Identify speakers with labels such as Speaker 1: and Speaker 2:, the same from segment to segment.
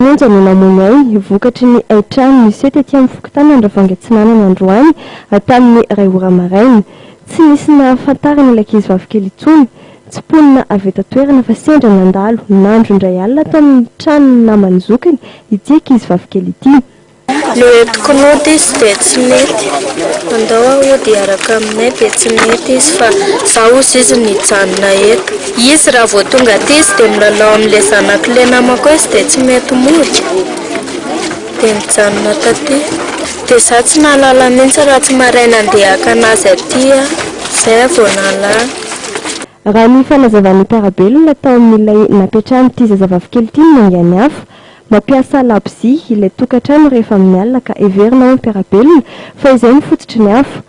Speaker 1: Monja no namono ainy, vokatry ny haitrano niseho tety amin'ny fokontany Andravoahangy Atsinanana androany tamin'ny iray ora maraina. Tsy nisy nahafantarana ilay ankizivavy kely intsony. Tsy mponina avy eto an-toerana fa sendra nandalo nandro indray alina tao amin'ny tranon'ny naman'ny zokiny ity ankizivavy kely ity. Ny eto
Speaker 2: Knut izy dia tsy mety. Andao ahody hiaraka aminay dia tsy mety izy fa za ozy izy no hijanona eto. Izy raha vao tonga aty izy dia milalao amin'ilay zanak'ilay namako izy dia tsy mety mody dia mijanona taty. Dia za tsy nahalala mihitsy raha tsy maraina andeha hakana azy aty aho. Zay aho vao nahalala. Raha
Speaker 1: ny fanazavan'ny mpiara-belona tao amin'ilay napetrahan'ity zazavavy kely ity no nangian'ny afo, mampiasa labozia ilay tokantrano rehefa amin'ny alina ka heverina ao mpiara-belona fa izay no fototry ny afo.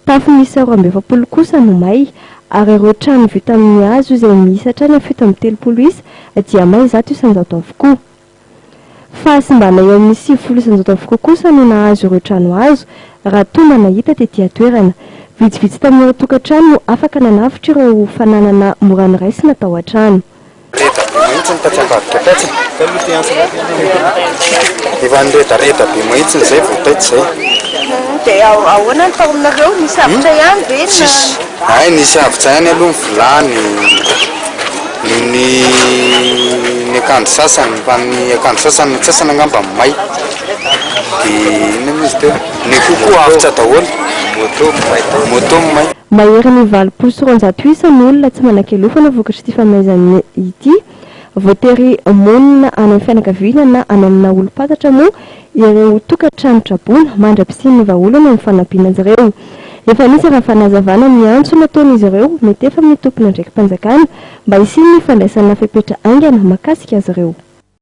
Speaker 1: Tafo miisa roa amby efapolo kosa no may ary ireo trano vita amin'ny hazo izay miisa hatrany amin'ny fito amby telopolo isa dia may zato isan-jato avokoa. Fahasimbana eo amin'ny sivifolo isan-jato avokoa kosa no nahazo ireo trano hazo, raha toa mba nahita tety an-toerana. Vitsivitsy tamin'ireo tokantrano no afaka nanavotra ireo fananana mora noraisina tao an-trano. Reda be mahitsy ny tatsy ambadika tatsy e!
Speaker 3: Efa niredareda be mahitsy izay vao taitra izay. Dia
Speaker 2: ahoana ny tao aminareo? Nisy avotra ihany ve na? Tsisy. Hay nisy avotra
Speaker 3: ihany aloha ny vilany. Nohon'ny ny akanjo sasany fa ny akanjo sasany ny antsasany angamba may de inona mo izy teo ny akoho koa avotra daholo moto may moto may. Mahery ny valopolo
Speaker 1: sy roanjato isa ny olona tsy manan-kialofana vokatr'ity famaizana ity. Voatery monina any amin'ny fianakaviana na any amina olom-pantatra moa Ireo tokantrano traboina, mandra-pisian'ny vahaolana ny fanampiana azy ireo. Efa nisy raha fanazavana ny antso nataon'izy ireo, mety efa amin'ny tompon'andraiki-panjakana, mba hisian'ny fandraisana fepetra haingana mahakasika azy ireo.